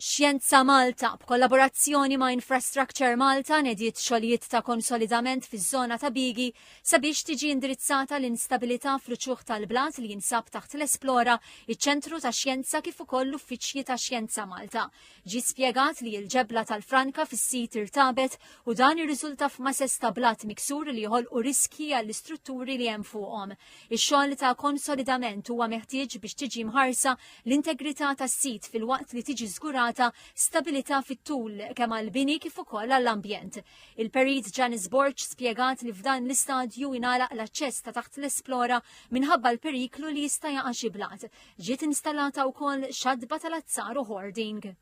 Xjenza Malta, b'kollaborazzjoni ma' Infrastructure Malta, nediet xogħlijiet ta' konsolidament fiż-żona ta' Bigi sabiex tiġi indirizzata l-instabilità fl-uċuħ tal-blat li jinsab taħt l-Esplora, iċ-Ċentru ta' Xjenza kif ukoll l-uffiċċji ta' Xjenza Malta. Ġie spjegat li l-ġebla tal-franka fis-sit irtabet u dan irriżulta f'masess ta' blat miksur li joħolqu riskji għall-istrutturi li hemm fuqhom. Ix-xogħol ta' konsolidament huwa meħtieġ biex tiġi mħarsa l-integrità tas-sit filwaqt li tiġi żgurata stabilità fit-tul kemm għall-bini kif ukoll għall-ambjent. Il-Perit Janice Borg spjegat li f'dan l-istadju ingħalaq l-aċċess ta' taħt l-Esplora minħabba l-periklu li jista' jaqa' xi blat. Ġiet installata wkoll xatba tal-azzar u hoarding.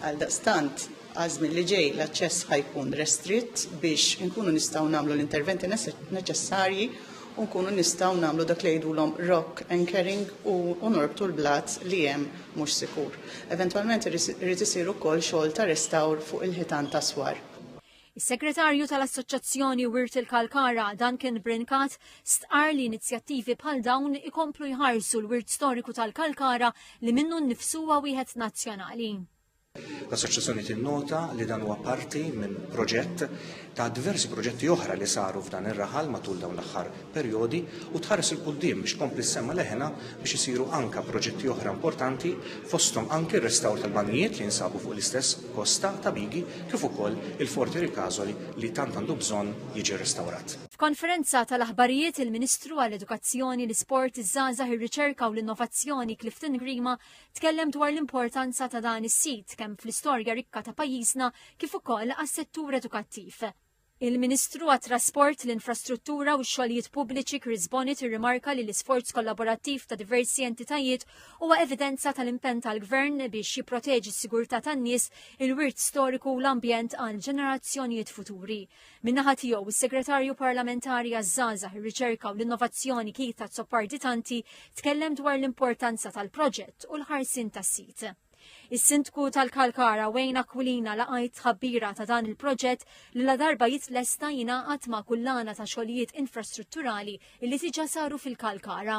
Għaldaqstant, għaż-żmien li ġej l-aċċess ħa jkun restritt biex inkunu nistgħu nagħmlu l-interventi neċessarji u nkunu nistgħu nagħmlu dak li jgħidulhom rock anchoring u norbtu l-blat li hemm mhux sikur. Eventwalment irid isir ukoll xogħol ta' restawr fuq il-ħitan ta' Swar. Is-Segretarju tal-Assoċjazzjoni Wirt il-Kalkara, Duncan Brincat, stqar li inizjattivi bħal dawn ikomplu jħarsu l-wirt storiku tal-Kalkara li minnu nnifsu huwa wieħed nazzjonali. L-Assoċjazzjoni tinnota li dan huwa parti minn proġett ta' diversi proġetti oħra li saru f'dan ir-raħal matul dawn l-aħħar perjodi u tħares 'il quddiem biex tkompli ssemma' leħinha biex isiru anke proġetti oħra importanti fosthom anke r-restawr tal-banjijiet li jinsabu fuq l-istess kosta ta' Bigi kif ukoll il-Fort Erikazoli li tant għandu bżonn jiġi rrestawrat. F'konferenza tal-aħbarijiet il-Ministru għall-Edukazzjoni, l-Isport, iż-Żgħażagħ, ir-Riċerka u l-Innovazzjoni Clifton Grima tkellem dwar l-importanza ta' dan is-sit kemm fl-istorja rikka ta' pajjiżna kif ukoll għas-settur edukattiv. Il-Ministru għat-Trasport, l-Infrastruttura u x-Xogħlijiet Pubbliċi Chris Bonnet irrimarka li l-isforz kollaborattiv ta' diversi entitajiet huwa evidenza tal-impenn tal-Gvern biex jipproteġi s-sigurtà tan-nies, il-wirt storiku u l-ambjent għal ġenerazzjonijiet futuri. Min-naħa tiegħu, is-Segretarju Parlamentari għaż-Żgħażagħ, ir-Riċerka u l-Innovazzjoni Keith Azzopardi Tanti tkellem dwar l-importanza tal-proġett u l-ħarsien tas-sit. Is-Sindku tal-Kalkara Wayne Aquilina laqajt tħabbira ta' dan il-proġett li la darba jitlesta jingħaqad ma' kullana ta' xogħlijiet infrastrutturali li diġà saru fil-Kalkara.